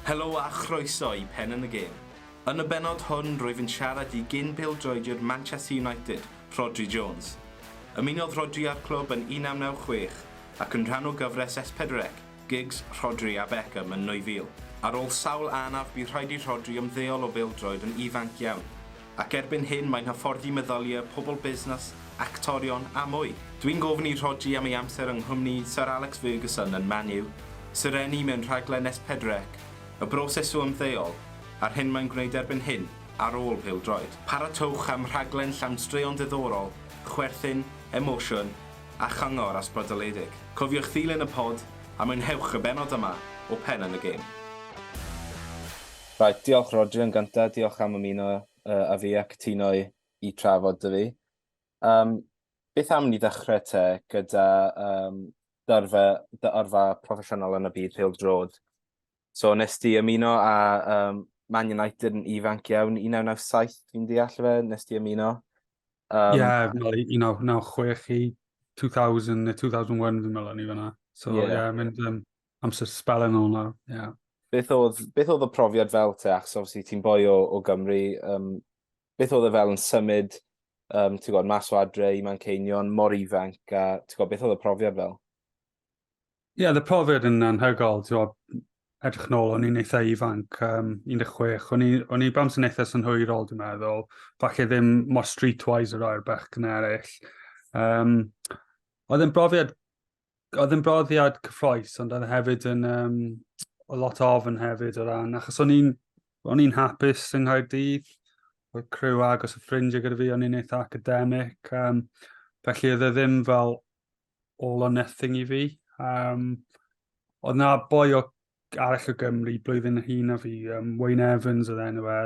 Helo a chroeso i Pen yn y Gêm. Yn y bennod hwn rwyf yn siarad i gyn-bêl-droediwr Manchester United, Rhodri Jones. Ymunodd Rhodri â'r clwb yn 1996 ac yn rhan o gyfres S4C, Giggs, Rhodri a Beckham yn 2000. Ar ôl sawl anaf bu rhaid i Rhodri ymddeol o bêl-droed yn ifanc iawn. Ac erbyn hyn mae'n hyfforddi meddyliau, pobl busnes, actorion a mwy. Dwi'n gofyn i Rhodri am ei amser yng nghwmni Syr Alex Ferguson yn Man U, Sirenni mewn rhaglen Nes Pedrec, y broses o ymddeol, a'r hyn mae'n gwneud erbyn hyn, ar ôl pêl-droed. Paratoch am rhaglen llawn straeon diddorol, chwerthin, emosiwn, a chyngor ysbrydoledig. Cofiwch ddilyn y pod a mwynhewch y bennod yma o Pen yn y Gêm. Reit, diolch Rhodri, yn gyntaf, diolch am ymuno uh, a fi a cytuno i, i trafod dy fi. Um, beth am ni ddechrau te gyda um, dy, arfa, dy arfa proffesiynol yn y byd pêl drod? So, nes ti ymuno a um, Man United yn ifanc iawn, 1997 fi'n deall fe, nes ti ymuno? Um, yeah, 1996 i 2000, 2001 fi'n meddwl ni fyna. So, yeah, yeah mynd, um, Amser spel yn ôl nawr, ie. Yeah. Beth oedd, beth oedd y profiad fel te, achos obviously ti'n boi o, o Gymru, um, beth oedd e fel yn symud, um, ti'n gwybod, mas o adre i Manceinion, mor ifanc, a ti'n gwybod, beth oedd y profiad fel? Ie, yeah, y profiad yn anhygol, ti'n gwybod, edrych nôl, o'n i'n eitha ifanc, um, 16, o'n i, o'n i bams yn eitha synhwyrol, dwi'n meddwl, falle ddim mor streetwise yr oer bech gyna eraill. Um, oedd yn brofiad oedd yn broddiad cyffroes, ond oedd e hefyd yn um, o lot o ofn hefyd o ran, achos o'n i'n o'n i'n hapus yng Nghaerdydd, oedd crew agos y ffrindiau gyda fi, o'n i'n eitha academic, um, felly oedd e ddim fel all or nothing i fi. Um, oedd na boi o arall o Gymru blwyddyn y hun o fi, um, Wayne Evans oedd enw e,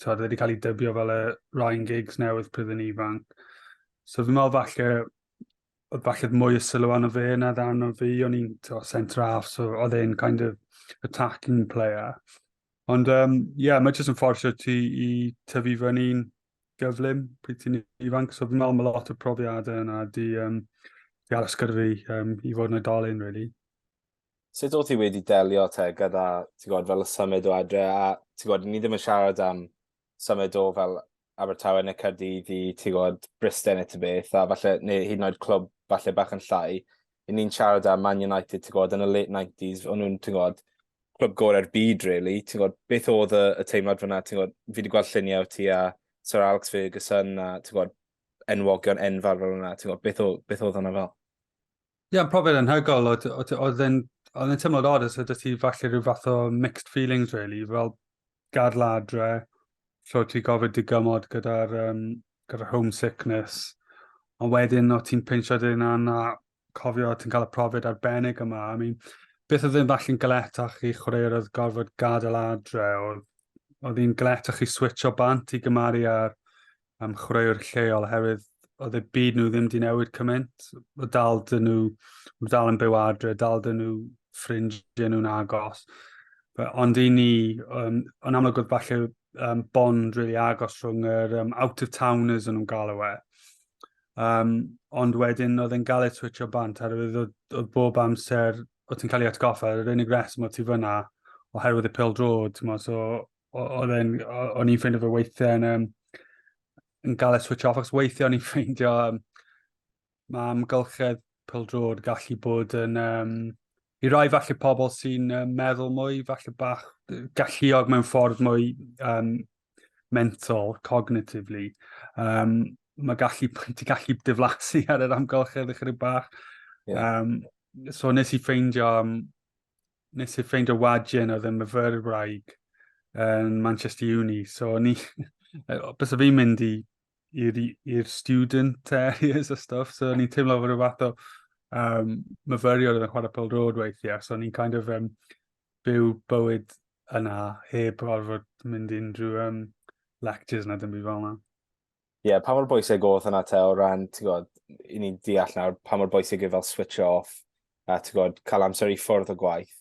oedd wedi cael ei dybio fel y Ryan Giggs newydd pryd yn ifanc. So fi'n meddwl falle falle mwy o sylw arno fe na ddarn o fi, o'n i'n centre half, so oedd e'n kind of attacking player. Ond, ie, um, yeah, mae jyst yn fforsio ti i tyfu fyny'n gyflym pryd ti'n ifanc, so fi'n meddwl mae lot o profiadau yna di, um, di aros gyda fi um, i fod yn oedolyn, really. Sut oedd ti wedi delio te gyda, ti'n gwybod, fel y symud o adre, a ti'n gwybod, ni ddim yn siarad am symud o fel Abertawe neu Caerdydd i, ti'n gwybod, Bristol neu ti'n beth, a falle, neu hyd yn oed clwb falle bach yn llai. I ni'n siarad am Man United, ti'n gwybod, yn y late 90s, o'n nhw'n, ti'n gwybod, clwb gorau'r byd, really. Ti'n gwybod, beth oedd y, y teimlad fyna, ti'n gwybod, fi wedi gweld lluniau o ti a Sir Alex Ferguson a, ti'n gwybod, enwogion enfawr fel yna, ti'n gwybod, beth, o, beth oedd hwnna fel? Ie, yeah, profiad anhygoel, oedd yn tymor odd, os ydych ti falle rhyw fath o mixed feelings, really, fel gadl adre, lle ti gofyd digymod gyda'r um, gyda homesickness, ond wedyn o ti'n pinsio dyn yna, cofio ti'n cael y profiad arbennig yma. I mean, beth oedd yn falle'n galetach i chwaraewyr oedd gorfod gadael adre, oedd, oedd hi'n galetach i switch o bant i gymaru ar am chwaraewr lleol oherwydd oedd y byd nhw ddim di newid cymaint. O dal dyn nhw, o dal yn byw adre, dal dyn nhw ffrindiau nhw'n agos. Ond i ni, um, ond amlwg oedd falle um, bond really agos rhwng yr um, out-of-towners yn nhw'n galw e. Um, ond wedyn oedd e'n gael ei twitio bant ar oedd, oedd bob amser oedd ti'n cael ei atgoffa, yr unig reswm oedd ti fyna oherwydd y pel drod, so oedd yn, o'n i'n ffeindio fy weithiau yn, um, yn gael y switch off, ac weithiau o'n i'n ffeindio um, mae amgylchedd pildrod gallu bod yn... Um, I rai falle pobl sy'n uh, meddwl mwy, falle bach galluog mewn ffordd mwy um, mental, cognitively, um, mae gallu, ti gallu diflasu ar yr amgylchedd ychydig bach. Yeah. Um, so nes i ffeindio um, nes i ffeindio wagen oedd yn myfyrwyr wraig yn Manchester Uni. So, ni, bys o fi'n mynd i i'r student areas a stuff, so ni'n teimlo fod y fath o um, myfyriol oedd yn chwarae pel rôd weithiau, so ni'n kind of um, byw bywyd yna heb orfod mynd unrhyw um, lectures na dim byd fel yna. ie, pa mor bwysig oedd hwnna te o ran, ti'n gwybod, i ni'n deall nawr pa mor bwysig yw fel switch off a ti'n gwybod, cael amser i ffwrdd o gwaith.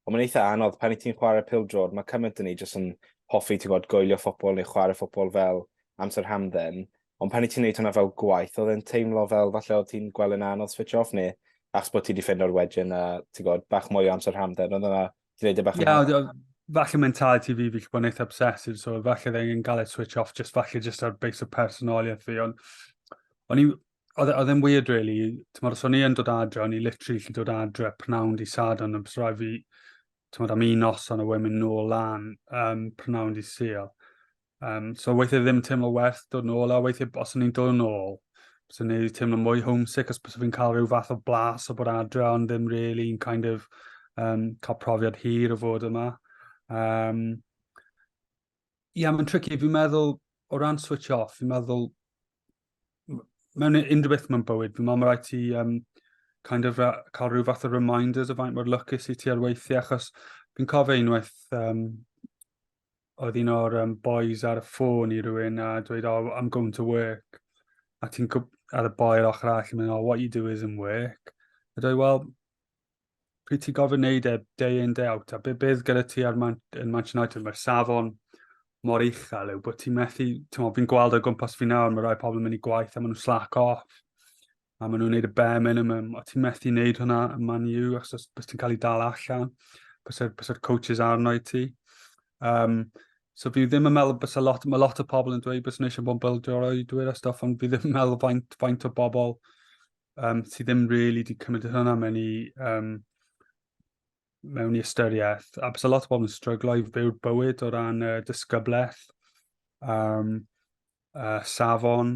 Ond mae'n eitha anodd pan i ti'n chwarae pil drod, mae cymaint yn ni jyst yn hoffi, ti'n gwybod, goelio ffobl neu chwarae ffobl fel amser hamdden. Ond pan i ti'n neud hwnna fel gwaith, oedd e'n teimlo fel falle oedd ti'n gweld yn anodd switch off neu achos bod ti wedi ffind o'r wedyn a ti'n gwybod, bach mwy o amser hamdden, oedd yna Dwi'n neud e bach yn... Ia, falle mentality fi, fi bod yn eitha obsessive, so falle dda i'n gael e switch off, just falle just ar base o personoliaeth fi, ond o'n i, oedd e, e'n weird really, ti'n modd, os o'n i yn dod adre, o'n i literally lli dod adre pnawn di sad, ond ymwneud rai fi, ti'n modd, am un noson a wedyn mynd nôl lan um, pnawn di seal. Um, so weithiau ddim yn teimlo werth dod yn ôl, a weithiau os o'n i'n dod yn ôl, bys o'n i'n teimlo mwy homesick os bys o'n i'n cael rhyw fath o blas o bod adre, ond ddim really yn kind of um, cael profiad hir o fod yma. Um, Ie, yeah, mae'n tricky. Fi'n meddwl, o ran switch off, fi'n meddwl, mewn unrhyw beth mewn bywyd, fi'n meddwl mae rhaid ti um, kind of cael rhyw fath o reminders o faint mor lwcus i ti ar weithiau, achos fi'n cofio unwaith um, oedd un o'r um, boys ar y ffôn i rywun a dweud, oh, I'm going to work. A ti'n cwp ar y boi ar ochr all yn mynd, oh, what you do is in work. A dweud, well, pryd ti'n gofyn neud e day in, day out, a be bydd gyda ti ar Man yn Manchester United, mae'r safon mor uchel yw bod ti'n methu, ti'n fi'n gweld o gwmpas fi nawr, mae rai pobl yn mynd i gwaith a maen nhw'n slack off. a maen nhw'n gwneud y bare minimum, o ti'n methu wneud hwnna yn Man U, os, os, os ti'n cael ei dal allan, bysa'r coaches arno i ti. Um, so fi ddim yn meddwl bys a lot, mae lot o pobl yn dweud bys nhw eisiau bod yn bildio'r oedwyr a stoff, ond fi ddim yn meddwl faint, faint o bobl um, sydd ddim really di cymryd hwnna mewn i, um, mewn i ystyriaeth. A bys a lot o bobl yn stryglo i fyw'r bywyd o ran uh, disgyblaeth, um, uh, safon,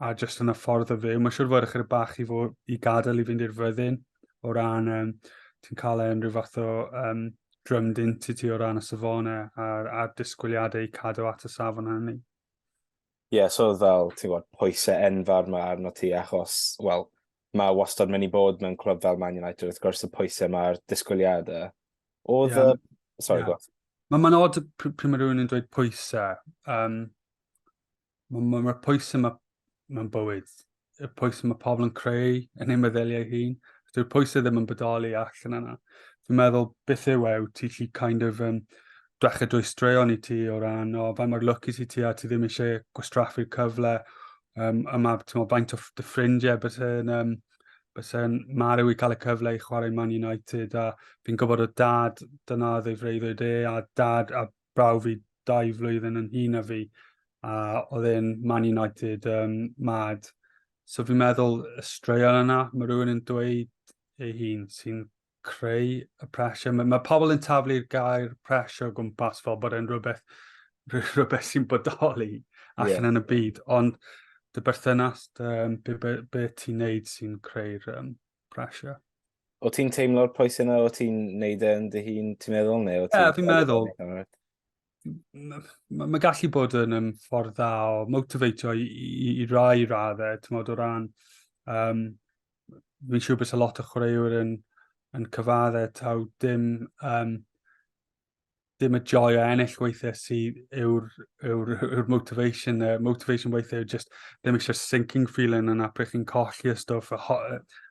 a jyst yn y ffordd o fyw. Mae'n siŵr fod ychydig bach i, fod, i gadael i fynd i'r fyddin o ran um, ti'n cael e'n rhyw fath o um, drym dint i ti o ran y safonau a'r, ar disgwyliadau i cadw at y safon hynny. Ie, yeah, so fel, ti'n gwybod, pwysau enfawr mae arno ti achos, wel, mae wastad mynd i bod mewn clwb fel Man United, wrth gwrs y pwysau mae'r disgwyliadau. Oedd yeah. y... Sorry, yeah. Mae'n ma od pryd mae rhywun yn dweud pwysau. Um, Mae ma, ma pwysau mae mewn bywyd, y pwysau mae pobl yn creu yn ei meddyliau hun, dyw'r pwysau ddim yn bodoli allan yna. Fi'n meddwl beth yw e, ti lli kind of um, dwecha drwy straeon i ti o ran o fe mae'r lwc i ti ti a ti ddim eisiau gwastraffu'r cyfle um, a mae ti'n meddwl faint o dy ffrindiau bys yn um, bys yn marw i cael y cyfle i chwarae Man United a fi'n gwybod o dad dyna oedd ei freuddwyd e a dad a braw fi dau flwyddyn yn hun a fi, a oedd e'n Man United um, mad. So fi'n meddwl y straeon yna, mae rhywun yn dweud ei hun sy'n creu y pressure. Mae, mae pobl yn taflu'r gair pressure o gwmpas fel bod e'n rhywbeth, rhywbeth sy'n bodoli allan yeah. yn y byd, ond dy berthynas, dy, be, be, be ti'n neud sy'n creu'r um, pressure? O ti'n teimlo'r pwysau yna, o ti'n neud e yn dy hun, ti'n meddwl, neu o ti'n... Ie, fi'n meddwl. Mae ma gallu bod yn um, ffordd dda o motiveitio i, i, i rai raddau, ti'n meddwl, o ran... Um, fi'n siŵr bys y lot o chwaraewyr yn, yn cyfaddau taw dim um, dim y joy o ennill weithiau sydd yw'r yw, yw motivation. Uh, motivation weithiau yw just ddim eisiau sinking feeling yna pryd chi'n colli y stwff, y, ho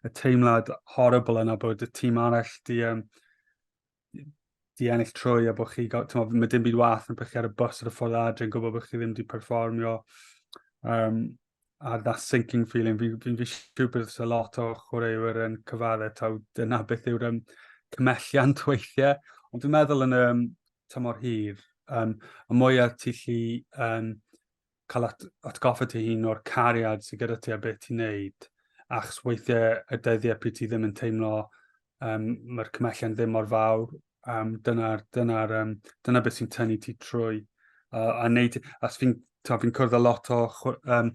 y teimlad horrible yna bod y tîm arall di, um, di ennill trwy a bod chi, tymod, mae dim byd wath yn pryd chi ar y bus ar y ffordd adre yn gwybod bod chi ddim di perfformio. Um, a that sinking feeling, fi'n fi, fi siw bydd a lot o chwaraewyr yn cyfadde taw dyna beth yw'r um, cymelliant weithiau. Ond dwi'n meddwl yn y um, tymor hir, um, y mwyaf ti lli um, cael at, atgoffa ti hun o'r cariad sydd gyda ti a beth ti'n neud, achos weithiau y dyddiau pryd ti ddim yn teimlo um, mae'r cymhellion ddim mor fawr, um, dyna, dyna, um, dyna beth sy'n tynnu ti trwy. Uh, a neud, as fi'n fi cwrdd â lot o um,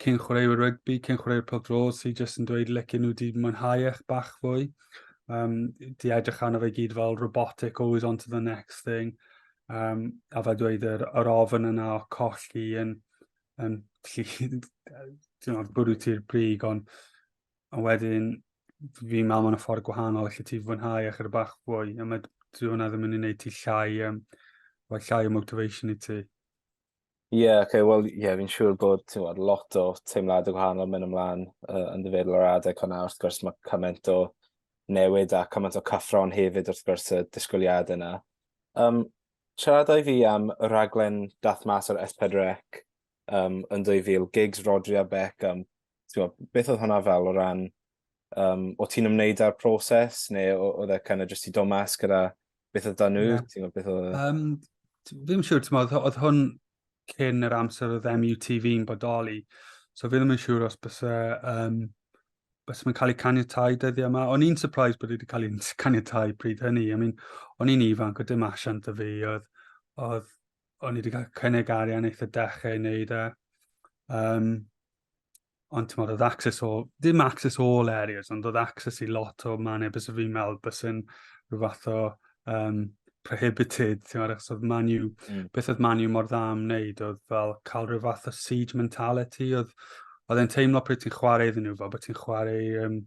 cyn chwaraewyr rygbi, cyn chwaraewyr pel dros, sy'n jyst yn dweud lec nhw wedi mwynhau eich bach fwy. Um, di edrych arno fe gyd fel robotic, always on to the next thing. Um, a fe dweud yr, yr ofyn yna o colli yn, yn lli, ti'n o'r bwrw ti'r brig, ond a wedyn fi'n meddwl mae'n ffordd gwahanol allu ti fwynhau a chyda bach fwy, a mae dwi hwnna ddim yn ei wneud ti llai, um, o llai o motivation i ti. Ie, yeah, okay, wel, ie, yeah, fi'n siŵr bod ti'n gwybod, lot o teimlad y gwahanol mynd ymlaen uh, yn dyfeddol o'r adeg hwnna. Wrth gwrs, mae cymaint o newid a cymaint o cyffro'n hefyd wrth gwrs y disgwyliad yna. Um, siaradau fi am y raglen dath mas o'r S4C um, yn 2000, gigs Rodri a Beckham, Tewa, beth oedd hwnna fel o ran, um, o ti'n ymwneud â'r proses, neu oedd e kind of just i do mas gyda beth oedd da nhw? Yeah. Ti'n gwybod beth oedd... Um, fi'n siŵr, ti'n oedd, oedd hwn cyn yr amser oedd MUTV yn bodoli. So fi ddim yn siŵr os bys e, um, bys mae'n cael ei caniatau dyddiau yma. O'n i'n surprised bod wedi cael ei caniatau pryd hynny. I mean, o'n i'n ifanc, o dim asiant y fi, oedd, oedd o'n i wedi cael cynnig arian eitha dechrau i wneud e. Um, ond ti'n modd, oedd access o, ddim access o all areas, ond oedd access i lot o mannau bys fi'n meddwl bys yn rhyw fath o um, prohibited, ti'n modd, achos oedd Man U, mm. beth oedd Man U mor dda am wneud, oedd fel cael rhyw fath o siege mentality, oedd oedd e'n teimlo pryd ti'n chwarae iddyn nhw, fel bod ti'n chwarae um,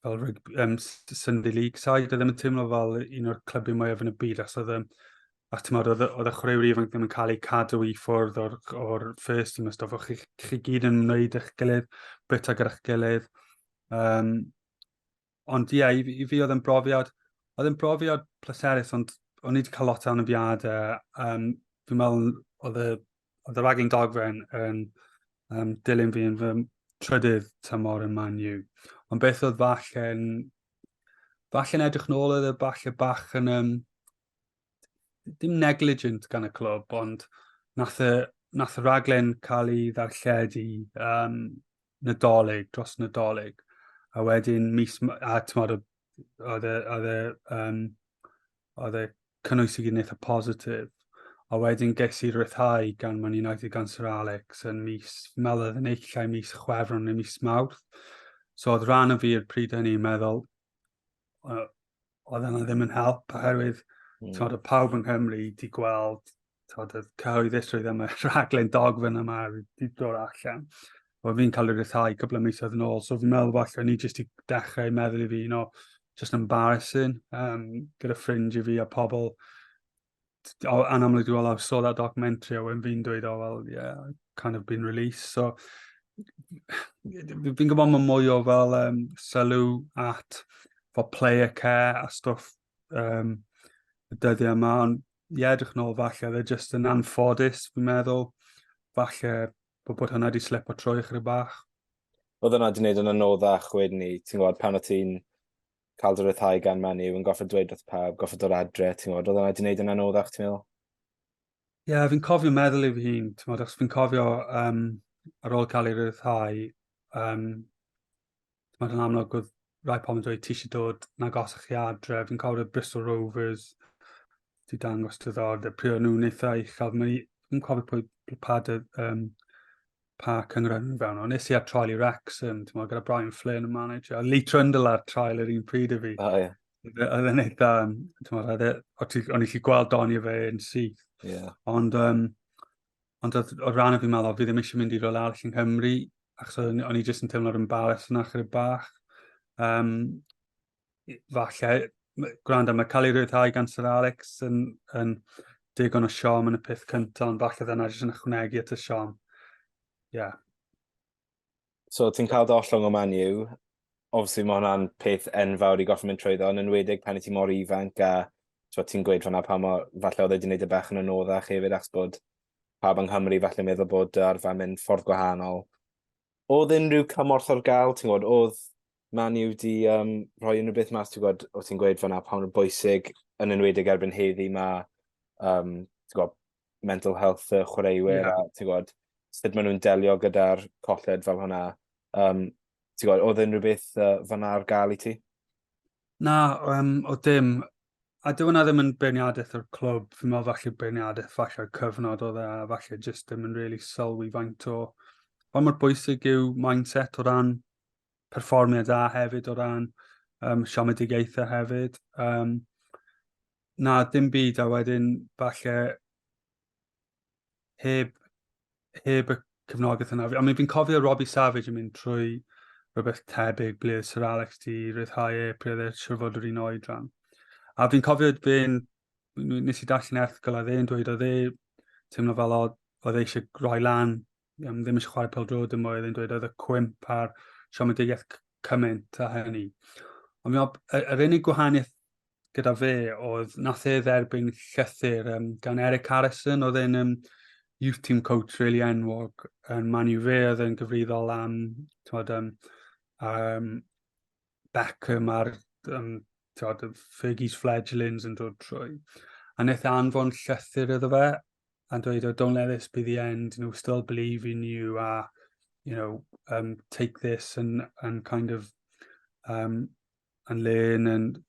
fel rygbi, um, Sunday League side, oedd ddim yn teimlo fel un o'r clybu mwyaf yn y byd, achos oedd a ti'n oedd, oedd y chwaraewyr ifanc ddim yn cael eu cadw i ffwrdd o'r, or first team a stof, chi, chi gyd yn wneud eich gilydd, bita gyda'ch gilydd. Um, ond ie, yeah, i, i fi oedd yn brofiad, oedd yn brofiad pleserus, ond o'n i wedi cael lot o anafiadau. Um, fi'n meddwl oedd y oedd y raglen dogfen yn um, dilyn fi yn fy trydydd tymor yn Man U. Ond beth oedd falle yn... Falle yn edrych nôl oedd y e falle bach yn... Um, dim negligent gan y clwb, ond nath y, nath y raglen cael ei ddarlledu um, nadolig, dros nadolig. A wedyn mis... A tymor oedd y, oedd y um, oedd e cynnwys i gyd yn eitha positif. A wedyn ges i rhyddhau gan Man United gan Sir Alex yn mis meledd yn eich llai mis chwefron neu mis mawrth. So oedd rhan o fi i'r pryd hynny yn meddwl, oedd yna ddim yn help, oherwydd mm. tymod, y pawb yng Nghymru di gweld tod, oedd cyhoeddusrwydd am y rhaglen dogfen yma wedi dod allan. Wel, fi'n cael ei rhyddhau cwbl o misoedd yn ôl, so fi'n meddwl falle o'n i jyst i dechrau meddwl i fi, no, just embarrassing, um, gyda ffrind i fi a pobl. O, anamlwg dwi'n meddwl, I saw that documentary, a wedyn fi'n dweud, oh, well, yeah, kind of been released, so fi'n gwybod mae mwy o fel um, sylw at fel player care a stwff um, y dyddiau yma, ond i edrych nôl falle, fe jyst yn anffodus, fi'n meddwl, falle bod bod hwnna wedi slip o troi chyda bach. Oedd hwnna wedi gwneud yn anoddach wedyn ni, ti'n gwybod, pan o ti'n cael dy ryddhau gan Man U, yn goffa dweud wrth pawb, goffa dod adre, ti'n gwybod, oedd hwnna wedi gwneud yn anoddach, ti'n meddwl? Ie, yeah, fi'n cofio meddwl i fy hun, ti'n gwybod, achos fi'n cofio um, ar ôl cael ei ryddhau, um, Mae yn amlwg oedd rai pobl yn dweud ti eisiau dod na gos chi adre. Fi'n cofio Bristol Rovers ti dangos dy ddord. A pryd o'n nhw'n eitha uchel. Fi'n cofio pwy pa, dy, um, pa cyngor yn fewn. Ond nes i ar trial i Wrexham, ti'n gyda Brian Flynn y manager. A Lee Trundle ar trial yr un pryd i fi. Oh, yeah. Oedd e'n eitha, ti'n e, o'n i chi gweld doni fe yn syth. Yeah. Ond um, Ond o'r rhan o fi'n meddwl, fi ddim eisiau mynd i rôl arall yn Cymru, achos o'n i jyst yn teimlo'r ymbarrass yna chyda bach. Um, falle, gwrando, mae cael ei rhyddhau gan Sir Alex yn, yn digon o siom yn y peth cyntaf, ond falle ddyna jyst yn ychwanegu at y siom. Ie. Yeah. So ti'n cael dy ollwng o Man U. Obviously mae hwnna'n peth enfawr i goffi mynd trwyddo, yn enwedig pan i ti mor ifanc a ti'n gweud fanna pa mor, falle oedd wedi gwneud y bach yn anoddach hefyd achos bod pawb yng Nghymru falle meddwl bod dy arfer mynd ffordd gwahanol. Oedd unrhyw cymorth o'r gael, ti'n gwybod, oedd Man U wedi um, rhoi unrhyw beth mas, ti'n gwybod, oedd ti'n gweud fanna pa mor bwysig, yn enwedig erbyn heddi mae um, gwybod, mental health y chwaraewyr yeah. a ti'n gwybod, sut maen nhw'n delio gyda'r colled fel hwnna. Um, ti'n gwybod, oedd unrhyw beth uh, fanna ar gael i ti? Na, um, o dim. A dwi hwnna ddim yn beirniadaeth o'r clwb. Fi'n meddwl falle beirniadaeth falle cyfnod oedd e, a falle jyst ddim yn really sylwi faint o... Pa mor bwysig yw mindset o ran perfformiad a hefyd o ran um, siomedigaethau hefyd. Um, Na, dim byd, a wedyn falle heb, heb y cefnogaeth yna. I mean, fi'n cofio Robbie Savage yn mynd trwy rhywbeth tebyg ble Sir Alex di rhyddhau e, ble oedd e siwr fod yr un oedran. A fi'n cofio fe'n, nes i darllen erthgol a dde'n dweud oedd e teimlo fel oedd e eisiau rhoi lan um, ddim eisiau chwarae pel drod dim oedd yn dweud oedd y cwymp a'r siomedigaeth cymaint a hynny. Ond mi ob, yr unig gwahaniaeth gyda fe oedd nath e dderbyn llythyr um, gan Eric Harrison oedd e'n um, youth team coach really enwog yn Man U fe oedd e'n gyfrifol am tywed, um, um, Beckham a'r um, tiod, Fergie's fledglings yn dod trwy. A wnaeth e anfon llythyr iddo fe a dweud, oh, don't let this be the end, you know, still believe in you, a, you know, um, take this and, and kind of, um, and learn, and,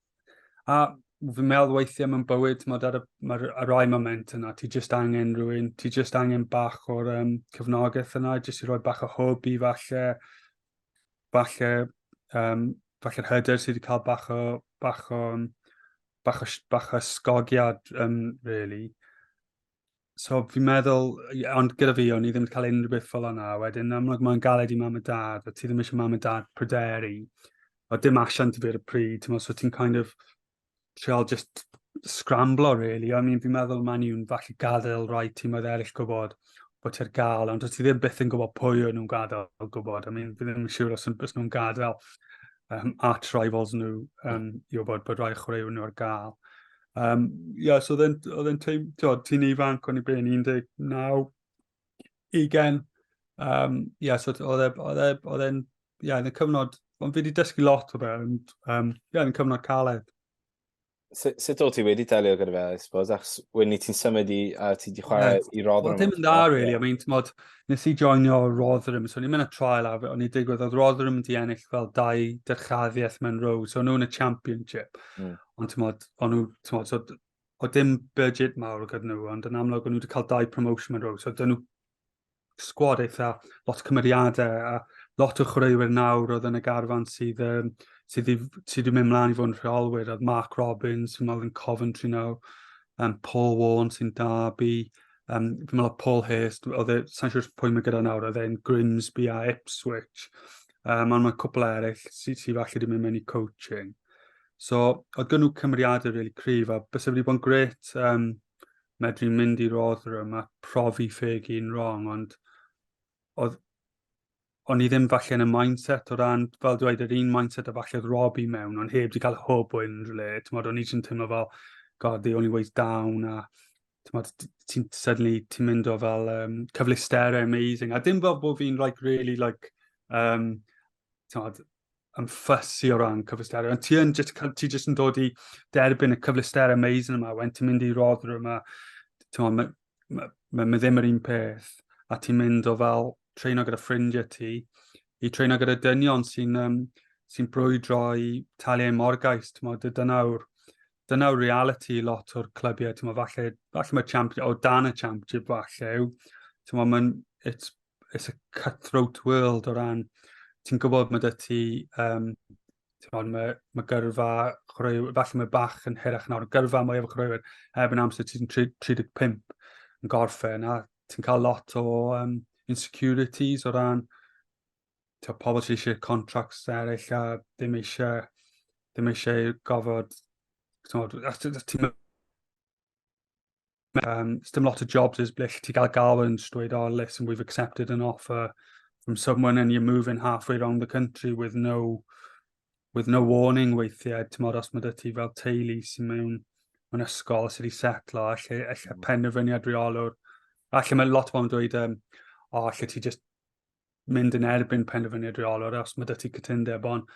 a fi'n meddwl weithiau mewn bywyd, mae ar y, ma ar rai moment yna, ti just angen rhywun, ti just angen bach o'r um, cyfnogaeth yna, jyst i roi bach o hwb i falle, falle, um, falle'r hyder sydd wedi cael bach o, bach o, bach o, bach o sgogiad, um, really. So fi'n meddwl, ond gyda fi, o'n i ddim wedi cael unrhyw beth fel yna. Wedyn, amlwg mae'n galed i mam a dad, a ti ddim eisiau mam a dad pryderu. O dim asiant i fi ar y pryd, ti'n meddwl, so ti'n kind of, trial just scramblo, really. I mean, fi'n meddwl maen nhw'n falle gadael rhai tîmoedd eraill gwybod bod ti'n gael, ond ti ddim byth yn gwybod pwy o'n nhw'n gadael gwybod. I mean, fi ddim yn siŵr os, os nhw'n gadael um, at rivals nhw um, i wybod bod rhai chwaraewyr nhw ar gael. Um, yeah, so oedd e'n teim, ti'n ifanc o'n i ben 19, 20. Um, yeah, so oedd e, e, e'n, yeah, yn y cyfnod, ond fi wedi dysgu lot o fe, ond um, yeah, yn y cyfnod caled. Sut so, so ti wedi delio gyda fe, I suppose, achos wedyn ni ti'n symud i, a ti wedi chwarae yeah. i Rotherham. Wel, dim yn dda, really. I mean, tymod, nes i joinio Rotherham, so ni'n mynd y trial af, o'n i digwydd, oedd Rotherham wedi ennill fel dau dyrchaddiaeth mewn row, so nhw'n y championship. Mm. Ond tymod, o'n nhw, tymod, so oedd dim budget mawr o gyda nhw, ond yn amlwg o'n nhw wedi cael dau promotion yn rhywbeth. So, dyn nhw sgwad eitha, lot o cymeriadau, a lot o chwaraewyr nawr oedd yn y garfan sydd, um, sydd, sydd wedi mynd mlaen i fod yn rheolwyr, oedd Mark Robbins, sy'n meddwl yn Coventry nawr, um, Paul Warren sy'n Derby, um, fi'n meddwl Paul Hurst, oedd e, sa'n siŵr pwy mae gyda nawr, oedd e'n Grimsby a Ipswich, um, ond mae cwpl eraill sydd sy falle wedi mynd mewn i coaching. So, oedd gynnw cymeriadau really cryf, a bys wedi bod yn gret um, medru mynd i'r Rotherham a profi ffeg un wrong, ond oedd o'n i ddim falle yn y mindset o ran, fel dweud, yr un mindset a falle oedd Robbie mewn, ond heb di cael hwb o unrhyw le. Tymod, o'n i jyst yn teimlo fel, god, the only way's down, a tymod, ti'n suddenly, ti'n mynd o fel um, cyfleusterau amazing, a dim fel bod fi'n like, really, like, um, tymod, yn ffysi o ran cyfleusterau, ond ti, yn just, ti just yn dod i derbyn y cyfleusterau amazing yma, wen ti'n mynd i roddr yma, ti'n mae ma, ma, ma ddim yr un peth, a ti'n mynd o fel treino gyda ffrindiau ti, i treino gyda dynion sy'n um, sy brwydro i talu ei morgais, ti'n modd, dynawr, dynawr reality lot o'r clybiau, ti'n modd, falle, falle mae champion, o dan y championship falle, ti'n modd, mae'n, it's it's a cutthroat world o ran, ti'n gwybod mae dy ti, um, mae, mae gyrfa chwaraewyr, falle mae bach yn hirach nawr, gyrfa mwy o chwaraewyr heb yn amser ti'n 35 yn gorffen, a ti'n cael lot o um, insecurities o ran to pobl sydd eisiau contracts eraill a ddim eisiau, ddim eisiau gofod, ti'n Um, dim lot o jobs is ble ti gael gael yn dweud, oh, listen, we've accepted an offer from someone and you're moving halfway around the country with no with no warning weithiau, ti'n modd os mae dy ti fel teulu sy'n mewn yn ysgol sydd wedi setlo, allu, allu mm. penderfyniad reolwr. Allu mae lot o'n dweud, um, oh, allu ti just mynd yn erbyn penderfyniad rheolwr os mae dy ti cytundeb, ond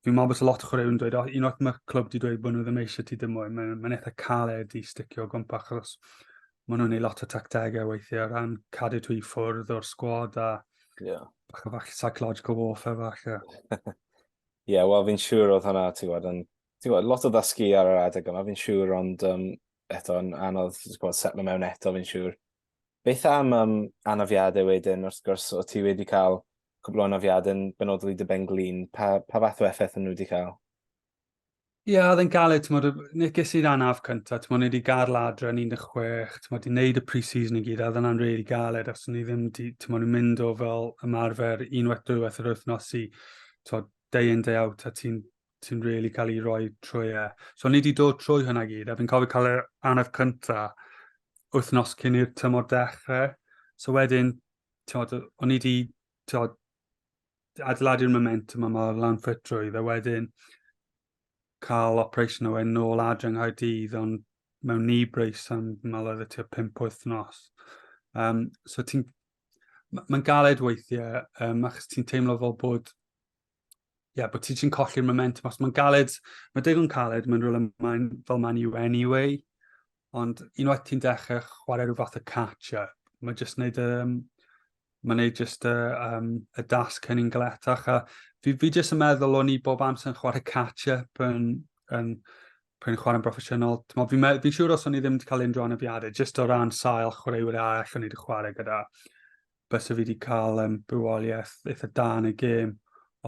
fi'n meddwl bod y lot o chwaraewyr yn dweud, oh, unwaith mae'r clwb wedi dweud bod nhw ddim eisiau ti ddim mwy, mae'n ma eitha caled i sticio o gwmpa, achos maen nhw'n ei lot o tactegau weithiau o ran cadw tu i ffwrdd o'r sgwad a yeah. bach o fach psychological warfare fach. Ie, yeah, wel fi'n siŵr oedd hwnna, ti'n gwybod, yn, ti'n gwybod, lot o ddysgu ar yr adeg yma, fi'n siŵr, ond um, eto yn anodd, ti'n gwybod, setlo mewn eto, fi'n siŵr. Beth am yym anafiadau wedyn, wrth gwrs, o ti wedi cael cwbl o anafiadau yn benodol i dy ben-glin, pa, pa fath o effaith yn nhw wedi cael? Ie, yeah, oedd yn galed, ti'n modd, neges i'r anaf cyntaf, ti'n modd, wedi gael ladra yn 16, ti'n modd, i wneud y pre-season i gyd, a ddyna'n rili really galed, os ni ddim, ti'n modd, yn mynd o fel ymarfer unwaith dwywaith yr wythnos i, ti'n modd, day in, day out, a ti'n sy'n really cael ei roi trwy e. So ni wedi dod trwy hynna gyd, a fi'n cofio cael yr anaf cynta wythnos cyn i'r tymor dechrau. So wedyn, tiod, o'n i wedi tiod, adeiladu'r momentum yma lan ffitrwydd, a wedyn cael operation o wedyn nôl adre yng Nghaerdydd, ond mewn ni breis am fel oedd y tua pimp wythnos. Um, so ti'n... Mae'n galed weithiau, um, achos ti'n teimlo fel bod ie, yeah, bod ti ti'n colli'r momentum. Os mae'n galed, mae digon caled, mae'n rhywle mae'n fel man you anyway. Ond unwaith ti'n dechrau chwarae rhyw fath o catch-up, mae jyst wneud, um, mae wneud jyst uh, um, y dasg hynny'n galetach. A fi, fi jyst yn meddwl o'n i bob amser yn chwarae catch-up yn, yn, yn chwarae'n broffesiynol. Fi'n fi, fi siŵr os o'n i ddim wedi cael unrhyw anafiadau, jyst o ran sail chwaraewyr arall o'n i wedi chwarae gyda. bysa fi wedi cael um, bywoliaeth eitha da yn y gêm.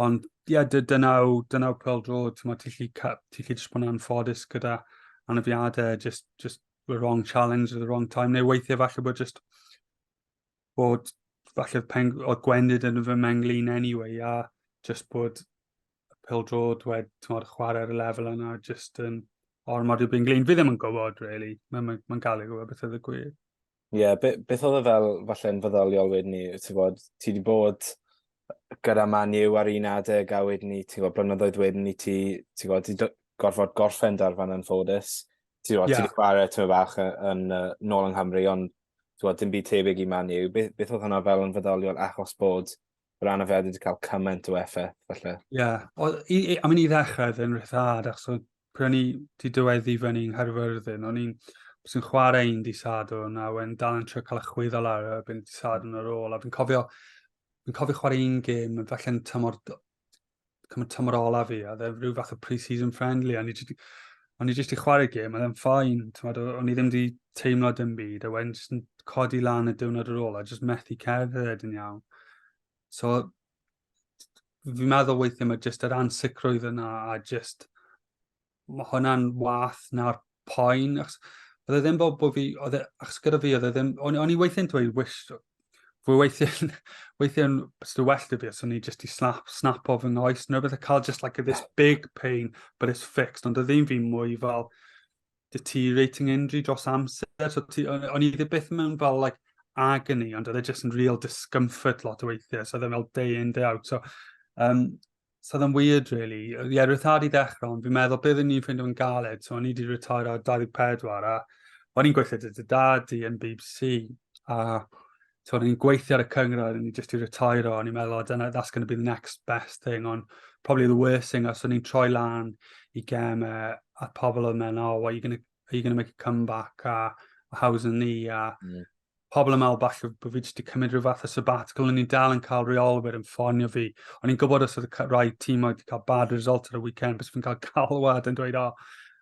Ond ie, yeah, dynaw, dynaw pel drod, ti'n ti lli, ti lli jyst bod yn anffodus gyda anafiadau, just, just the wrong challenge at the wrong time, neu weithiau falle bod just bod falle pen, oedd gwendid yn fy menglin anyway, a just bod pel drod wed, ti'n modd, chwarae ar y lefel yna, just yn ormod i'w byn glin. Fi ddim yn gwybod, really. Mae'n ma, ma, ma gael ei gwybod beth oedd y gwir. Ie, yeah, be, beth oedd e fel falle'n fydoliol wedyn ni? Ti'n bod, ti wedi bod gyda Man U ar un adeg a wedyn ni, ti'n bod, blynyddoedd wedyn ni ti, ti'n bod, ti gorfod gorffen dar fan yn ffodus. Ti'n bod, yeah. ti wedi chwarae ti'n fach yn, yn, yn nôl yng Nghymru, ond ti'n bod, dim byd tebyg i Man U. Beth, beth oedd hwnna fel yn fydoliol achos bod yr anafeddi wedi cael cymaint o effaith, falle. Ie, yeah. i, i, am i ddechrau oedd yn rhyddhad, achos oedd pryd o'n i wedi dyweddi i fyny yng Nghaerfyrddin, o'n i'n sy'n chwarae un di sadwn a wedyn dal yn trio cael y chwyddo lawr a byn di sadwn ar ôl a fi'n cofio fi'n cofio chwarae un gêm yn falle'n tymor cymryd tymor ola fi, a dde rhyw fath o pre-season friendly, a ni jyst, o'n i jyst i chwarae gym, a ddim ffain, o'n i ddim di teimlo dim byd, a wedyn jyst yn codi lan y diwrnod ar ôl, a jyst methu cerdded yn iawn. So, fi'n meddwl weithio mae jyst yr ansicrwydd yna, a jyst mae hwnna'n wath na'r poen, achos oedd e ddim bod, bod fi, oedd e, achos gyda fi, oedd e ddim, o'n, on i weithiau'n dweud, wish, fwy weithiau'n, weithiau'n still well to fi, so ni just i snap, snap off yng ngoes, neu beth a cael just like this big pain, but it's fixed, ond oedd ddim fi mwy fel deteriorating injury dros amser, so ti, o'n, on i ddim beth mewn fel like agony, ond oedd e just yn real discomfort lot o weithiau, so oedd e fel day in, day out, so um, So oedd yn weird, really. Ie, yeah, rhythad i ddechrau, ond fi'n meddwl bydd ni'n ffeindio yn galed. So, o'n i wedi retired ar 24, a o'n i'n gweithio dy dy dad i yn BBC. A so, o'n i'n gweithio ar y cyngrair, o'n i jyst i retired, o'n i'n meddwl, oh, dyna, that's going to be the next best thing, ond probably the worst thing, os o'n i'n troi lan i gem, a pobl oedd mewn, oh, what are you going to are you going to make a comeback, a, a how's the knee, a mm. pobl yn meddwl falle bod fi wedi cymryd rhyw fath o sabbatical, o'n i'n dal yn cael reolwyr yn ffonio fi. O'n i'n gwybod os oedd rai tîm oedd wedi cael bad result ar y weekend, bys fi'n cael galwad yn dweud, oh,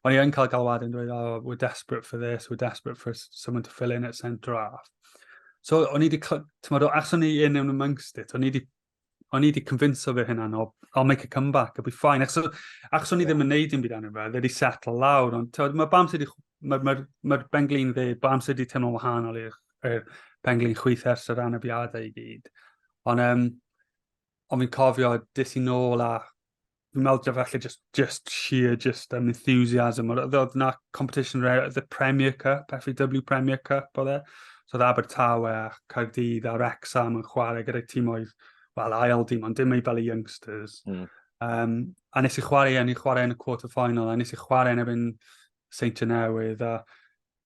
o'n i'n cael galwad yn dweud, oh, we're desperate for this, we're desperate for someone to fill in at centre half. So, o'n i wedi, tymod, achos o'n i yn yn amongst it, o'n i wedi o'n i wedi convinso fy hynna, no, I'll make a comeback, I'll be fine. Achos, achos o'n i ddim yn neud yn byd anna fe, fe wedi settle lawr. Ond mae bam sydd wedi... Mae'r ma, ma, ma benglin fe, bam sydd wedi teimlo'n wahanol i'r er benglin chwith ers yr anafiadau i gyd. Ond, um, ond fi'n cofio, dis i nôl a fi'n meddwl dyfa falle just, just sheer, just um, enthusiasm. Oedd yna competition the Premier Cup, FAW Premier Cup, oedd e. So oedd Abertawe a Caerdydd a Rexham yn chwarae gyda'r tîmoedd, wel, ail dim, ond dim ei fel y youngsters. Mm. Um, a nes i chwarae, a ni chwarae yn y quarter final, a nes i chwarae yn ebyn Saint Genewydd, a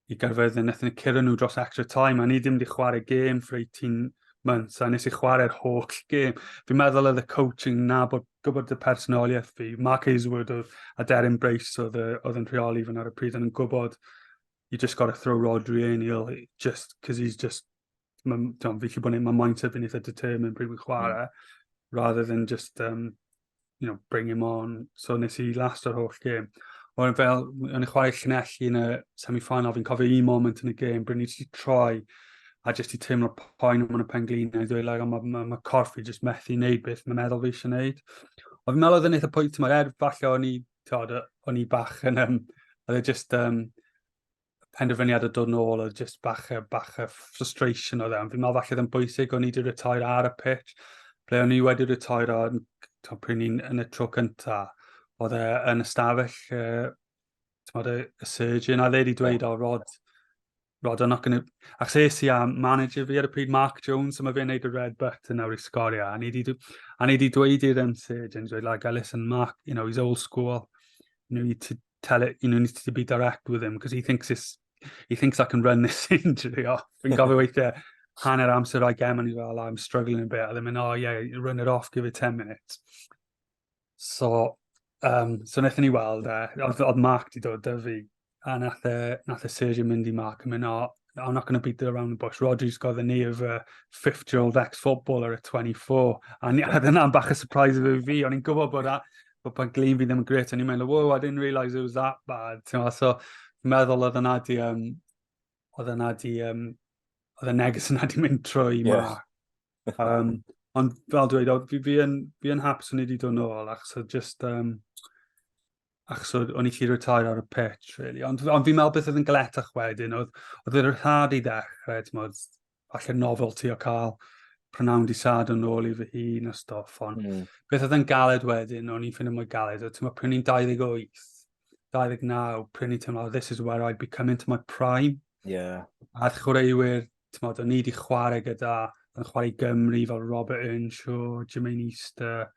i gyrfyrddi, a wnaethon ni curo nhw dros extra time, a ni ddim wedi chwarae gêm for 18 months, a nes i chwarae'r holl gêm. Fi'n meddwl oedd y coaching na bod gwybod y personoliaeth fi. Mark Hazelwood oedd, a Darren Brace oedd, oedd yn rheoli fan ar y pryd, ond yn gwybod you just got to throw Rodri in, he'll just, because he's just mae'n fi'n gallu bod yn my mindset fi'n eitha determined pryd fi'n chwarae, mm. rather than just, um, you know, bring him on. So nes i last o'r holl gêm. Ond fel, yn y chwarae llunelli yn y semi-final, fi'n cofio un moment yn y gêm, bryd ni wedi troi, a jyst i teimlo poen am y pen glin, a i ddweud, like, mae ma, ma corff i jyst methu wneud beth mae'n meddwl fi eisiau wneud. Ond fi'n meddwl oedd yn eitha pwynt, mae'r er falle o'n i, o'n i bach yn, um, oedd e just, um, penderfyniad o dod nôl o just bach a bach a frustration o ddim. E. Fi'n meddwl falle ddim bwysig o'n i wedi retair ar y pitch, ble o'n i wedi retair o pryd ni'n yn y tro cynta. Oedd e yn ystafell uh, tymod, y, y surgeon, a dde wedi dweud, o, Rod, Rod, I'm not going to... Ac ses i a manager fi ar y pryd, Mark Jones, a mae fe'n neud y red button nawr i sgorio. A ni wedi dweud i'r um, surgeon, dweud, like, listen, Mark, you know, he's old school. You know, you tell it, you know, needs to be direct with him, because he thinks it's, he thinks I can run this injury off. Fi'n gofio weithiau hanner amser o'i gem, and he's like, I'm struggling a bit. A ddim yn, oh yeah, run it off, give it 10 minutes. So, um, so wnaethon ni weld e, oedd Mark di dod dy fi, a nath e, nath e Sergio mynd i Mark yn mynd, oh, I'm not going to beat it around the bush. Rodgers got the knee of a 50-year-old ex-footballer at 24. A dyna'n bach y surprise of fi. O'n i'n gwybod bod, a, bod pan glin fi ddim yn gret. O'n i'n meddwl, wow, I didn't realise it was that bad. Tewa, so, meddwl oedd yna di, um, oedd yna di, um, oedd y neges yna di mynd trwy yeah. ma. Um, ond fel dweud, fi, fi, yn, fi yn hapus o'n i wedi dod nôl, achos so just, um, ac so o'n i chi retire ar y pitch, really. Ond, ond fi'n meddwl beth oedd yn gletach wedyn, oedd, oedd yr rhad i ddechrau, ti'n modd, falle nofel ti o cael prynawn di sad yn ôl i fy hun a stoff, ond mm. beth oedd yn galed wedyn, o'n i'n ffindio mwy galed, oedd ti'n modd, pryn i'n 28, 29, pryn i'n teimlo, oh, this is where I become into my prime. Yeah. A chwaraewyr tmod, o'n i wedi chwarae gyda, yn chwarae i Gymru fel Robert Earnshaw, Jermaine Easter,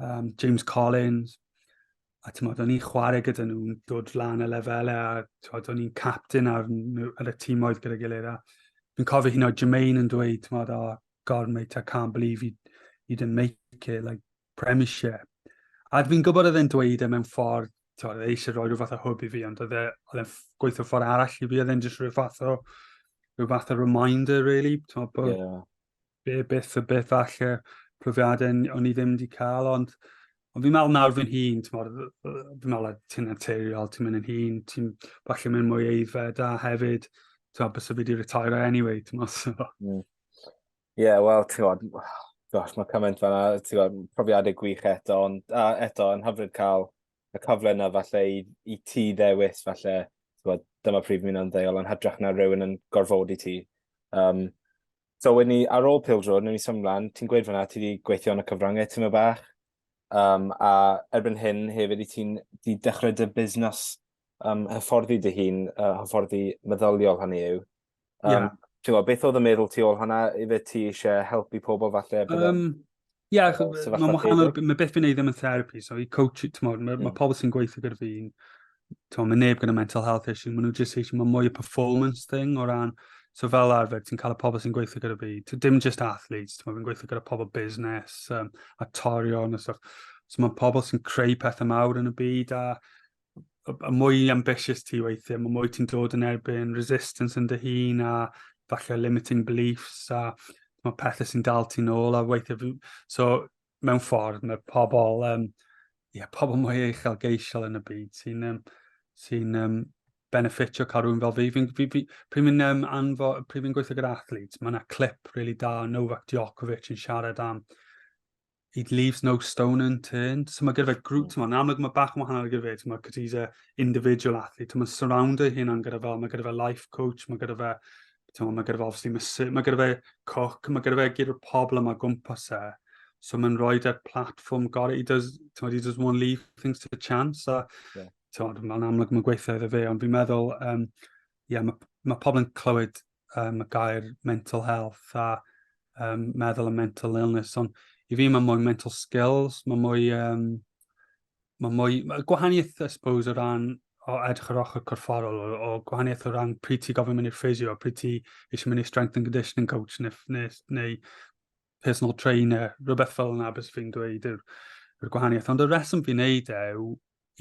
um, James Collins, a tmod, o'n i'n chwarae gyda nhw'n dod lan y lefelau, a tmod, o'n i'n captain ar, ar y tîmoedd gyda gilydd, a fi'n cofio hyn o Jermaine yn dweud, tmod, oh, God, mate, I can't believe you, you didn't make it, like, Premiership. A dwi'n gwybod oedd e'n dweud e mewn ffordd, oedd e eisiau rhoi rhyw fath o hwb i fi, ond oedd e, oedd e'n gweithio ffordd arall i fi, oedd e'n just rhyw fath o, rhyw fath o reminder, really, tywed, bod yeah. be, beth o beth falle profiadau o'n i ddim wedi cael, ond, ond fi'n meddwl nawr fi'n hun, fi'n meddwl ti'n anteriol, ti'n mynd yn hun, ti'n falle mynd mwy eiddfed, a hefyd, tywed, bys o fi wedi retire anyway, ti'n meddwl, so. Yeah. Ie, yeah, wel, ti'n gwybod, gosh, mae cymaint fanna, ti'n gwybod, profiadau gwych eto, ond a, eto, yn hyfryd cael y cyfle yna falle i, i ti ddewis falle, ti'n gwybod, dyma prif mynd yn ddeol, ond hydrach na rhywun yn gorfod i ti. Um, so, wedyn ni, ar ôl Pils Road, nhw'n i symud mlaen, ti'n gweud fanna, ti wedi gweithio yn y cyfryngau ti'n meddwl bach, um, a erbyn hyn hefyd i ti'n di dechrau dy busnes um, hyfforddi dy hun, uh, hyfforddi meddyliol hynny yw. Um, yeah. Ti'n gwybod, beth oedd y meddwl ti ôl hwnna? Ife ti eisiau helpu pobl falle? Um, Ie, yeah, mae'n wahanol, mae beth fi'n ei ddim yn therapi, so i coach, ti'n modd, mae mm. pobl sy'n gweithio gyda fi'n, ti'n mae neb gyda mental health issue, maen nhw just eisiau, mae mwy o performance thing o ran, so fel arfer, ti'n cael y pobl sy'n gweithio gyda fi, dim just athletes, ti'n fi'n gweithio gyda pobl busnes, um, actorion a stuff, so mae pobl sy'n creu pethau mawr yn y byd, a y mwy ambitious ti weithiau, mae mwy ti'n dod yn erbyn resistance yn dy hun a falle limiting beliefs a mae pethau sy'n dal ti'n ôl a weithiau... So, mewn ffordd, mae pobl, um, yeah, pobl mwy uchel geisiol yn y byd sy'n um, sy um, benefitio cael rhywun fel fi. Fi'n fi, fi, fi, fi um, anfo, pryd fi'n gweithio gyda athletes, mae yna clip really da Novak Djokovic yn siarad am he leaves no stone unturned. So mae gyda fe grŵp, mm. yn amlwg mae bach yn wahanol gyda fe, mae gyda fe individual athlete, mae'n surround ei hyn gyda fel, mae gyda fe life coach, mae gyda fe, mae gyda fe obviously mysy, mae gyda fe coc, mae gyda fe gyda'r pobl yma gwmpas e. So mae'n rhoi e'r platform gorau, he does, he does one leave things to the chance, a yeah. mae'n amlwg mae'n gweithio iddo fe, ond fi'n meddwl, um, yeah, mae, mae pobl yn clywed um, y gair mental health a um, meddwl a mental illness, ond i fi mae mwy mental skills, mae mwy, um, mae mwy, mae gwahaniaeth, I suppose, o ran o edrych ar ochr corfforol, o, o gwahaniaeth o ran pryd ti gofyn mynd i'r ffisio, pryd ti eisiau mynd i'r strength and conditioning coach, neu, neu, neu personal trainer, rhywbeth fel yna bys fi'n dweud yw'r yw gwahaniaeth. Ond y reswm fi'n neud e yw,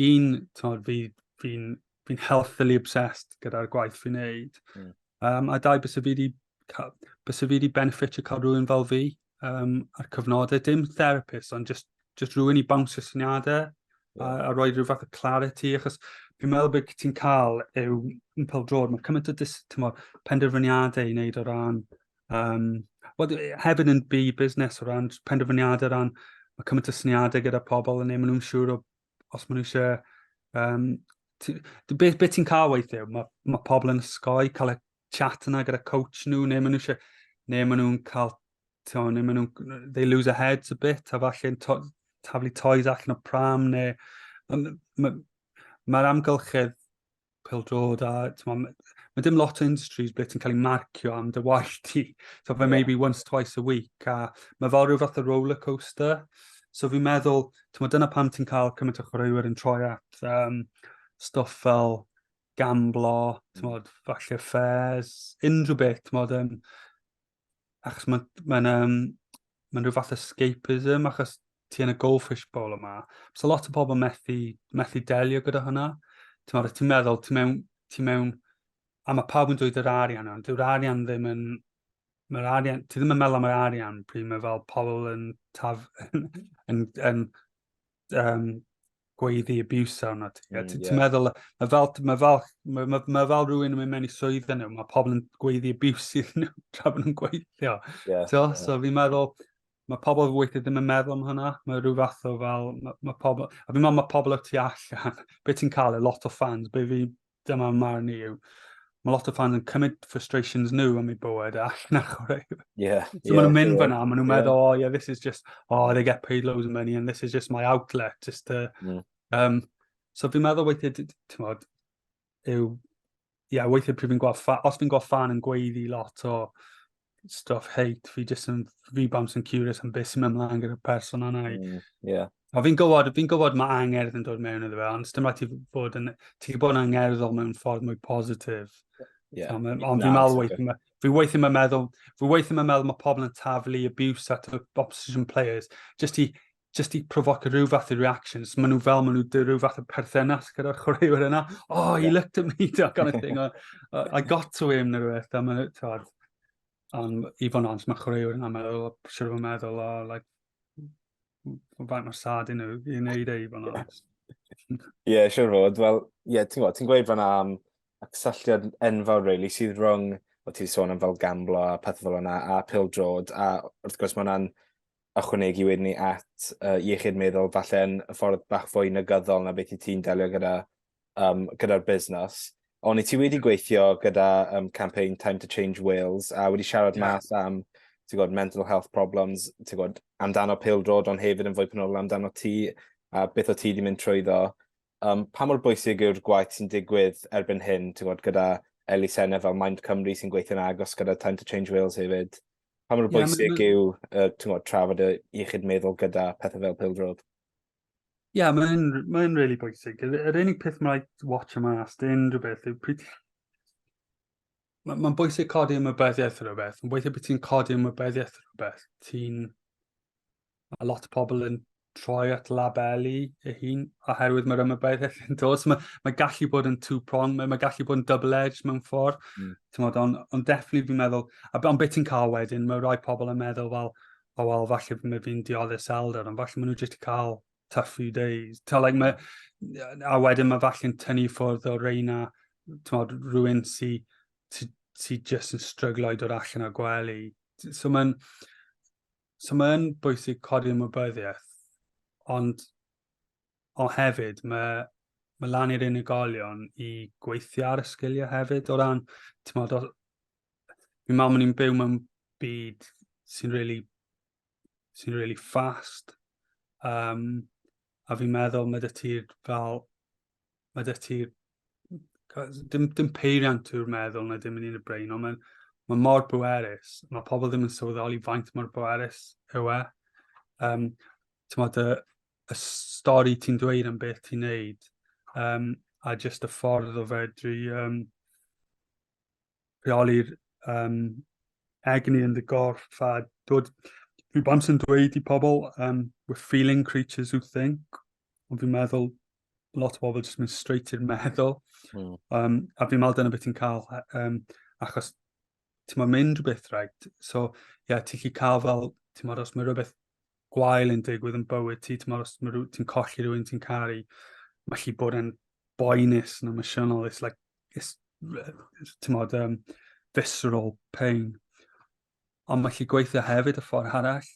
un, tymod, fi, fi'n fi healthily obsessed gyda'r gwaith fi'n neud. Mm. Um, a dau, bys fi wedi bys fi wedi benefit o cael rhywun fel fi um, a'r cyfnodau. Dim therapist, ond just, just rhywun i bawnsio syniadau yeah. a, a roi rhyw fath o clarity, achos fi'n meddwl bod ti'n cael yw yn pel drod, mae cymaint o dis, tymor, penderfyniadau i wneud o ran Um, well, hefyd yn bu busnes o ran penderfyniadau, o ran mae cymaint o syniadau gyda pobl yn ei maen nhw'n siŵr o, os maen nhw eisiau... Um, beth be ti'n cael weithiau? Mae, mae pobl yn ysgoi, cael y chat yna gyda coach nhw, neu maen nhw eisiau... Neu maen nhw'n cael... Tio, neu maen nhw'n... They lose a head a bit, a falle to, taflu toys allan o pram, neu... Mae'r ma, ma amgylchedd pildrod a ma, ma dim lot o industries ble ti'n cael ei marcio am dy waith ti. So fe yeah. maybe once, twice a week a mae fel rhyw fath o roller coaster. So fi'n meddwl, ti'n dyna pam ti'n cael cymaint o chwaraewyr yn troi at um, stuff fel gamblo, ti'n modd, falle ffes, unrhyw beth, ti'n modd, um, achos mae'n ma um, ma rhyw fath escapism, achos ti yn y goldfish bowl yma. So lot o pobl methu, methu delio gyda hynna. Ti'n ti meddwl, ti'n mewn, ti mewn, a mae pawb yn dweud yr arian, ond dyw'r arian ddim yn, mae'r arian, ti ddim yn meddwl am yr arian pryd mae fel pobl yn taf, yn, yn, yn um, gweiddi abuse arno ti. Mm, Ti'n yeah. meddwl, mae fel, ma fel, ma, ma, ma fel rhywun yn mynd mewn i swydd yn nhw, mae pobl yn gweiddi abuse iddyn nhw tra bod nhw'n gweithio. Yeah, so, yeah. so fi'n meddwl, mae pobl weithio ddim yn meddwl am hynna. Mae rhyw fath o fel, mae, ma pobl, a fi'n meddwl mae pobl o ti allan, beth ti'n cael e, lot o fans, beth fi, dyma marn i yw, mae lot o fans yn cymryd frustrations nhw am ei bywyd a allan ar chwarae. Yeah, so yeah, maen nhw'n mynd yeah, fyna, maen nhw'n yeah. meddwl, oh yeah, this is just, oh they get paid loads of money and this is just my outlet, just to... Yeah. Um, so fi'n meddwl weithiau, ti'n modd, yw, ie, yeah, weithiau pryd fi'n gweld, os fi'n gweld fan yn gweiddi lot o stuff hate, fi jyst yn rebounds yn curious am beth sy'n mynd mlaen gyda'r person yna. Mm, yeah. O, fi'n gwybod, fi'n gwybod mae angerdd yn dod mewn iddo fe, ond dim rhaid ti fod yn, ti bod yn angerddol mewn ffordd mwy positif. Yeah. So, ond fi'n meddwl weithio, fi weithio mae'n meddwl, fi weithio mae'n meddwl mae pobl yn taflu abuse at opposition players, just i just i provoc rhyw fath o reactions. Maen nhw fel, maen nhw dy rhyw fath o perthynas gyda'r chwaraewyr yna. Oh, he looked at me, that kind of thing. Or, uh, I got to him, neu rhywbeth. A maen nhw, ond i fod yn ond, mae chwaraewyr yna meddwl, siwr fod meddwl, oh, like, faint o'r sad i nhw, i wneud ei fod yn ond. Ie, siwr fod. Wel, ie, yeah, ti'n gwybod, ti'n gweud fanna am y cysylltiad enfawr, really, sydd rhwng, o ti'n sôn am fel gamblo a pethau fel yna, a pildrod, a wrth gwrs mae hwnna'n ychwanegu wedyn ni at uh, iechyd meddwl, falle yn y ffordd bach fwy negyddol na beth i ti'n delio gyda, um, gyda'r busnes. Ond i ti wedi gweithio gyda um, campaign Time to Change Wales a wedi siarad yeah. mas am ti'n gwybod, mental health problems, ti'n gwybod, amdano pildrod, ond hefyd yn fwy penodol amdano ti, a beth o ti wedi mynd trwyddo. Um, pa mor bwysig yw'r gwaith sy'n digwydd erbyn hyn, ti'n gwybod, gyda elusennau fel Mind Cymru sy'n gweithio'n agos gyda Time to Change Wales hefyd? Pa mor bwysig yeah, yw uh, tymod, trafod y iechyd meddwl gyda pethau fel pildrod? Ie, yeah, mae'n ma rili really bwysig. Yr, yr unig peth mae'n rhaid watch yma as dyn rhywbeth yw pryd... Mae'n ma bwysig codi ymwybyddiaeth rhywbeth. Mae'n bwysig bod ti'n codi ymwybyddiaeth rhywbeth. Ti'n mae lot o pobl yn troi at labelu ei hun oherwydd mae'r ymwybyddiaeth yn dos. Mae, mae gallu bod yn two-prong, mae, mae gallu bod yn double-edged mewn ffordd. Mm. Ond on, on definitely fi'n meddwl, ond beth ti'n cael wedyn, mae rhai pobl yn meddwl fel, o wel, falle mae fi'n dioddus elder, ond falle maen nhw jyst i cael tough few days. Ta, like, mae, a wedyn mae falle'n tynnu ffwrdd o reina, tymod, rhywun sy'n sy, sy jyst yn stryglo i dod allan o gwely. So mae'n, So mae'n bwysig codi ymwybyddiaeth, ond o hefyd mae, mae lan i'r unigolion i gweithio ar y sgiliau hefyd o ran, ti'n modd, fi mam yn i'n byw mewn byd sy'n really, sy'n really fast, um, a fi'n meddwl mae dy ti'r fel mae dych ti... Dim, dim peiriant yw'r meddwl na dim yn un y brain, ond mae'n mae mor bwerus. Mae pobl ddim yn sylweddoli faint mor bwerus yw e. Um, Tymod, y, y stori ti'n dweud am beth ti'n neud, um, a jyst y ffordd o fedru um, rheoli'r um, egni yn dy gorff a dod... Fi bant yn dweud i pobl, um, we're feeling creatures who think, ond fi'n meddwl lot o bobl jyst mynd straight i'r meddwl. Mm. Um, a fi'n meddwl dyna beth ti'n cael, um, achos ti'n mynd rhywbeth rhaid. So, ie, yeah, ti'n chi cael fel, ti'n meddwl, os mae rhywbeth gwael yn digwydd yn bywyd ti, ti'n os mae ti'n colli rhywun ti'n caru, mae chi bod yn boenus yn emosiynol, it's like, it's, ti'n modd, um, visceral pain. Ond mae chi gweithio hefyd y ffordd arall,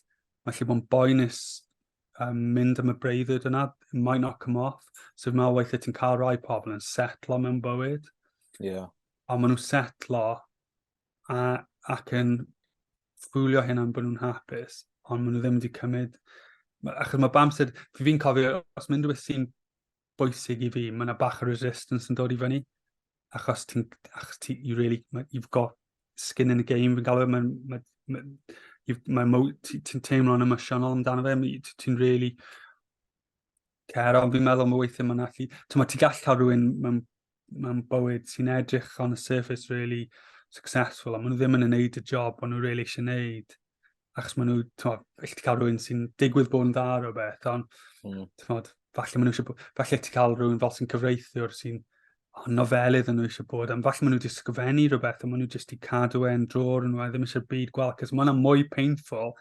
mae chi bod yn boenus um, mynd am y breuddwyd yna, it might not come off. So mae weithio ti'n cael rai pobl yn setlo mewn bywyd. Yeah. A maen nhw'n setlo a, ac yn ffwlio hyn am bod nhw'n hapus, ond maen nhw ddim wedi cymryd... Achos mae bamsyd, fi fi'n cofio, os mae unrhyw beth sy'n bwysig i fi, mae yna bach o resistance yn dod i fyny. Achos ti'n, achos ti, you really, you've got skin in the game, fi'n galw, e, mae'n, mae, mae, mae, mae, ti'n teimlo'n emosiynol amdano fe, ti'n really care, ond fi'n meddwl mae weithiau mae'n allu, ti'n ti gall cael rhywun mewn mae'n bywyd sy'n edrych on the surface really successful, a maen nhw ddim yn gwneud y job maen nhw really eisiau gwneud. Achos maen nhw, ti'n gallu cael rhywun sy'n digwydd bod yn dda o beth, ond, mm. ti'n falle maen nhw eisiau bod, falle ti cael rhywun fel sy'n cyfreithiwr sy'n oh, nofelydd yn nhw eisiau bod, ond falle maen nhw wedi sgwennu rhywbeth, a maen nhw jyst i cadw e'n drôr yn nhw, a ddim eisiau byd gweld, cos maen nhw'n mwy painful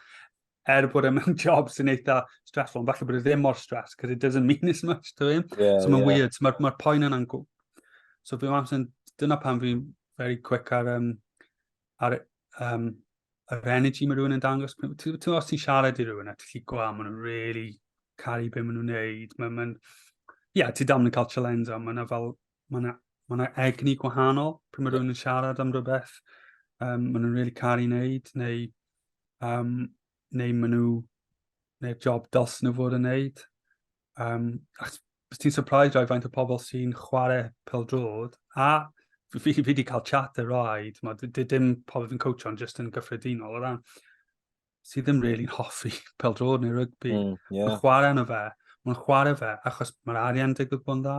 er bod e mewn job sy'n eitha stressful, ond falle bod e ddim mor stress, because it doesn't mean as much to him. Yeah, so mae'n yeah. weird, so mae'r ma poen yna'n gwb. So fi'n meddwl, yn, dyna pan fi'n very quick ar, um, ar um, yr energy mae rhywun yn dangos. Ti'n os ti'n siarad i rhywun a ti'n lli gwa, maen nhw'n really caru beth maen nhw'n neud. Mae'n, ma yeah, ti dam yn cael challenge, ond mae'n fel, mae yna ma yna egni gwahanol pryd mae rhywun yn siarad am rhywbeth um, maen nhw'n really caru wneud, neu, um, neu maen nhw, neu'r job dos nhw fod yn wneud. Um, achos bys ti'n surprised rhaid faint o pobl sy'n chwarae pel drod, a fi, fi, fi wedi cael chat y rhaid, mae dim pobl fi'n coach on, just yn gyffredinol o ran. sydd ddim really hoffi pel drod neu rygbi, mm, yeah. mae'n chwarae yna fe. Mae'n chwarae fe achos mae'r arian digwydd bod yn dda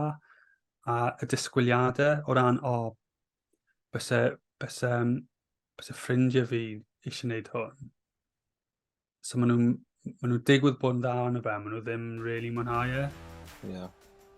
a y disgwyliadau o ran, o, oh, bys e, bys e, bys e ffrindiau fi eisiau gwneud hwn. So maen nhw'n maen nhw digwydd bod yn dda yn y fe, maen nhw ddim really mwynhau e. Yeah.